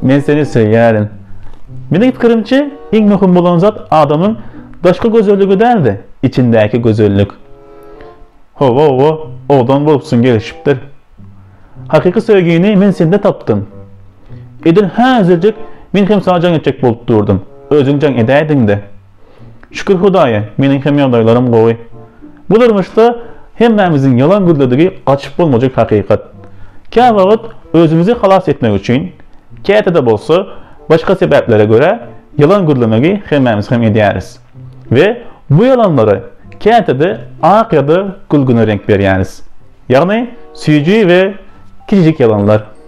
Men seni söýýärin. Meniň pikirimçe, iň möhüm bolan zat adamyň daşky gözelligi däl-de, içindäki gözellik. Hawa-hawa, owadan bolupsyň, gelişipdir. Hakyky söýgini men sende tapdym. Edil häzirjik men hem saňa jaň etjek bolup durdum. Özüň jaň edäýdiň-de. Şükür Hudaýa, meniň hem ýagdaýlarym gowy. Bu durmuşda hemmämiziň ýalan gözledigi gaçyp bolmajak hakykat. Käwagt özümizi halas etmek üçin, käte-de bolsa, başga sebäplere görä, ýalan gözlemegi hemmämiz hem edýäris. We bu ýalanlara käte-de ak ýa-da gülgüne reňk berýäris. Ýagny, süýji we kiçijik ýalanlar.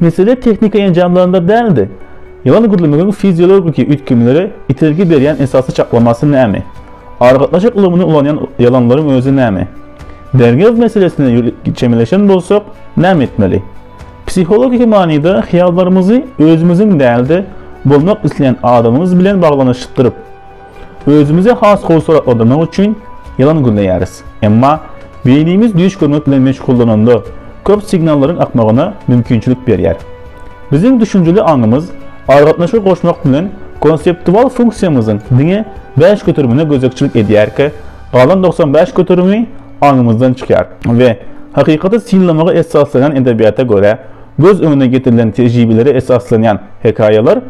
Mesele tehniki enjamlarynda däldi. Ýylan gürlemegiň fiziologiki üýtgemlere itergi berýän esasy çaklamasy näme? Aragatnaşyk ulgamyny ulanýan ýylanlaryň özi näme? Derňew meselesine çemeleşen bolsak, näme etmeli? Psihologiki manyda hyýallarymyzy özümiziň däl-de, bolmak isleýän adamymyz bilen baglanyşdyryp, Özümizi has gowy suratlandyrmak üçin ýalan gözleýäris. Emma beýnimiz düýş görmek bilen meşgullananda, köp signallaryň akmagyna mümkinçilik berýär. Biziň düşünjeli aňymyz aragatnaşygy goşmak bilen konseptual funksiýamyzyň diňe bäş göterimine gözegçilik edýärkä, galan togsan bäş göterimi aňymyzdan çykýar we hakykaty synlamaga esaslanýan edebiýata görä, göz öňüne getirilen tejribelere esaslanýan hekaýalar,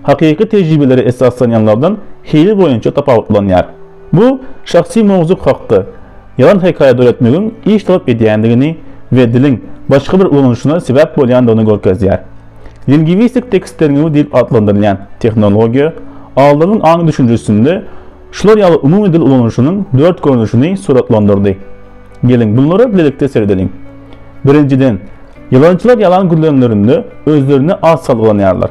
hakyky tejribelere esaslanýanlardan hili boýunça tapawutlanýar. Bu şahsy mowzuk hakda ýalan hekaýa döretmegiň iş talap edýändigini we diliň başga bir ulanyşyna sebäp bolýandygyny görkezýär. Lingwistik tekst derňewi diýip atlandyrylýan tehnologiýa aldymyň aň-düşünjesinde şular ýaly umumy dil ulanyşynyň dört görnüşini suratlandyrdy. Geliň, bunlara bilelikde seredeliň. Birinjiden, ýalançylar ýalan gürlänlerinde özlerini az salgylanýarlar.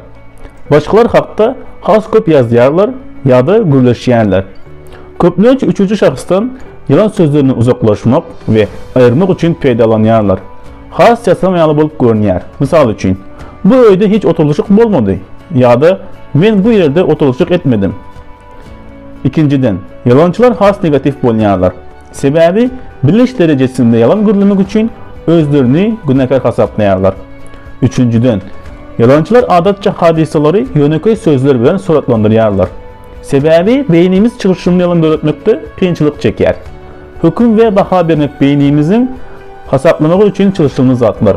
Başgalar hakda has köp ýazýarlar ýa-da gürleşýärler. Köplenç üçünji şahsdan ýalan sözlerini uzaklaşmak we aýyrmak üçin peýdalanýarlar. Has ýasama ýaly bolup görünýär. Mysal üçin, Bu öýde hiç oturylyşyk bolmady ýa-da Men bu ýerde oturylyşyk etmedim. Ikinjiden, ýalançylar has negatiw bolýarlar. Sebäbi biliş derejesinde ýalan gürlemek üçin özlerini günäkär hasaplaýarlar. Üçünjiden, ýalançylar adatça hadysalary ýönekeý sözler bilen suratlandyrýarlar. Sebäbi beýnimiz çylşyrymly ýalan döretmekde kynçylyk çekýär. Höküm we baha bermek beýnimiziň hasaplamagy üçin çylşyrymly zatlar.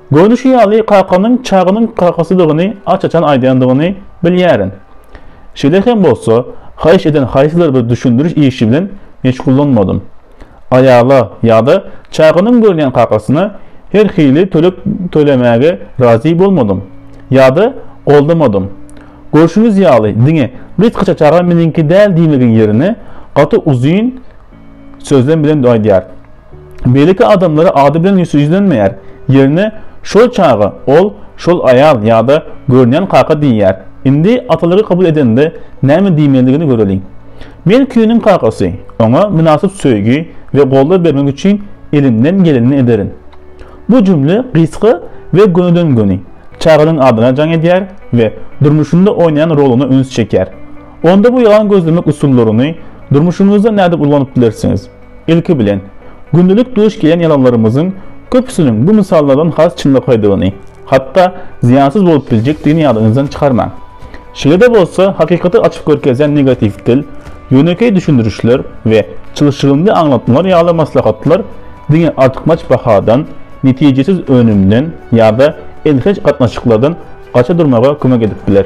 Görnüşi ýaly, kakanyň Çagynyň kakasydygyny aç-açan aýdýandygyny bilýärin. Şeýle hem bolsa, haýyş eden haýsydyr bir düşündiriş işi bilen meşgullanmadym. Aýala ýa-da Çagynyň görýän kakasyna her hili töleg tölemäge razy bolmadym ýa-da goldamadym. Görşüňiz ýaly, diňe gysgaça Çaga meniňki däl diýmegiň ýerine, gaty uzyn, sözlem bilen aýdýar. Beýleki adamlara ady bilen ýüzlenmeýär, ýerine şol çaga ol, şol aýal ýa-da görünýän kaka diýýär. Indi atalygy kabul edende näme diýmelidigini göreliň. Men Küýüniň kakasy, oňa mynasyp söýgi we goldaw bermek üçin elimden gelenini ederin. Bu jümle gysga we gönüden-göni, çaganyň adyna jaň edýär we durmuşynda oýnaýan roluna üns çekýär. Onda bu ýalan gözlemek usullaryny durmuşyňyzda nädip ulanyp bilersiňiz? Ilki bilen, gündelik duş gelýän ýalanlarymyzyň köpüsiniň bu mysallardan has çynlakaýdygyny, hatda zyýansyz bolup biljekdigini ýadyňyzdan çykarmaň. Şeýle-de bolsa, hakykaty açyp görkezýän negatiw dil, ýönekeý düşündirişler we çylşyrymly aňlatmalar ýaly maslahatlar diňe artykmaç bahadan, netijesiz önümden ýa-da elhenç gatnaşyklardan gaça durmaga kömek edip biler.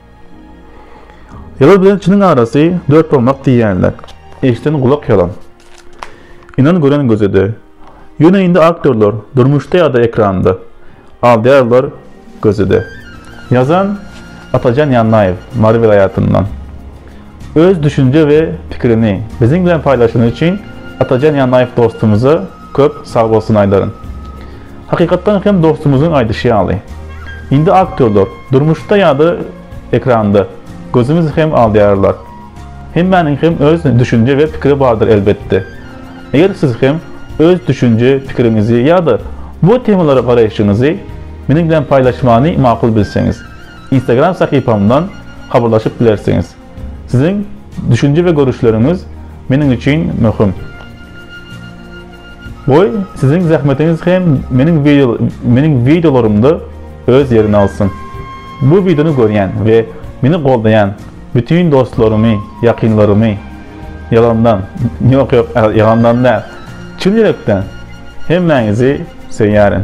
Ýalan bilen çynyň arasy dört barmak diýýänler. Eşden gulak ýalan. Ynan gören gözede. Ýöne indi aktýorlar, durmuşda ýa-da ekranda, aldýarlar gözede. Ýazan, Atajan Ýannaýew, Mary welaýatyndan. Öz düşünje we pikirini biziň bilen paýlaşany üçin Atajan Ýannaýew dostumyza Köp sagbolsun Aýdaryn. Hakykatdan hem dostumyzyň aýdyşy ýaly. Indi aktýorlar, durmuşda ýa-da ekranda, gözümiz hem aldýarlar. Hemmäniň hem öz düşünje we pikiri bardyr elbetde. Eger siz hem öz düşünje, pikiriňizi ýa-da bu temalara garaýşyňyzy meniň bilen paýlaşmany makul bilseňiz, Instagram sahypamdan habarlaşyp bilersiňiz. Siziň düşünje we görüşleriňiz meniň üçin möhüm. Goý, siziň zähmetiňiz hem meniň wideo meniň wideolarymda öz ýerini alsyn. Bu wideony görýän we meni goldaýan bütin dostlarymy, ýakynlarymy ýalandan, ýok ýok, ýalandan däl, çyn ýürekden hemmäňizi söýýärin.